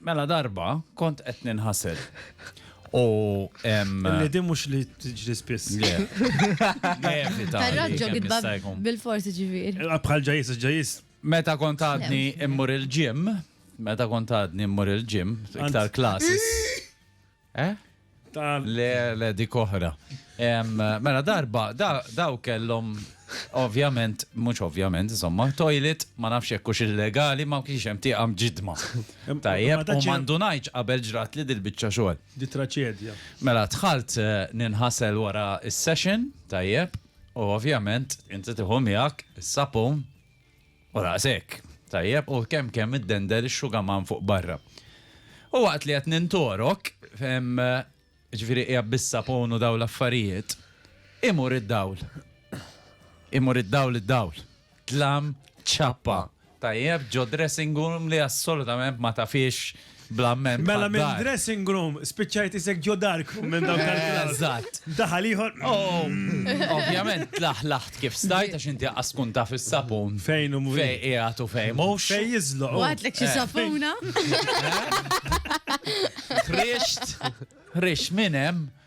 Mela darba kont qed ninħasel. U Li din mhux li tiġri spiss. Tarraġġo gidba bil-forsi ġifier. Eh, bħal ġajis, ġajis. Meta kont għadni immur il-ġim, meta kont għadni immur il-ġim, iktar klasis. Eh? Le, le, dik oħra. Mela darba, daw kellhom ovvjament, mhux ovvjament, insomma, toilet ma nafx hekk hux illegali ma kienx hemm tieqa mġidma. Tajjeb, u mandunajċ qabel ġrat li dil-biċċa xogħol. Di traċedja. Mela dħalt eh, ninħasel wara s-session, tajjeb, u ovvjament inti tiħu miegħek is-sapun U naqas hekk. Tajjeb, u kemm kemm iddender ix-xugaman fuq barra. U waqt li qed nintorok, jiġifieri qiegħed bis-sapun u dawn l-affarijiet, imur id-dawl. Imur id-dawl id-dawl. Tlam ċappa, tajjeb, ġo dressing room li assolutament ma tafhiex. bl-amment. Mela minn dressing room spiċċajt isek ġo dark room minn dawk tal-klass. Eżatt. Daħal ieħor. Oh, ovvjament tlaħlaħt kif stajt għax inti għas tkun taf is-sapun. Fejn u fej qiegħed u fej mhux. Fej jiżloq. Għadlek xi eh. sapuna. Ħrixt, ħrixt minn hemm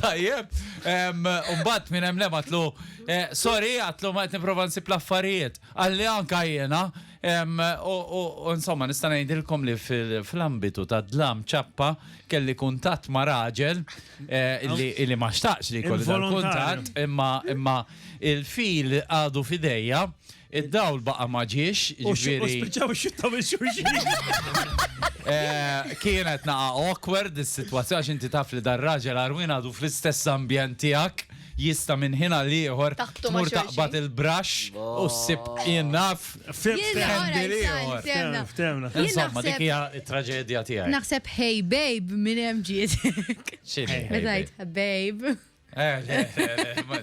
Tajjeb, umbat minn hemm għatlu, eh, sorry, għatlu ma qed nipprova nsib l-affarijiet. Għalli anka jiena, u insomma nista' ngħidilkom li fl-ambitu ta' dlam ċappa kelli kuntatt ma' raġel eh, li ma xtaqx li kollu kuntatt, imma il-fil għadu fidejja Id-dawl baqa' ma ġiex, U jiġifieri spiċċaw ixjuttaw lil xulxin. eh, kienet naqa' awkward is-sitwazzjoni għax inti taf li dar-raġel għarwien għadu fl-istess ambjent tiegħek, jista' minn ħin għal ieħor Taqbtu ma' tmur xulxin. taqbad il-braxx u ssib jien naf. Fim, Jien fim. ora Għandi jisal, ieħor. ftemna. Ftemna, ftemna. Jien Insomma, dik naħseb- hija t-traġedja tiegħi. Naħseb hey babe minn hemm ġiet. X'inhi, Meta baby? jgħid babe. Eh, le, le, le, ma-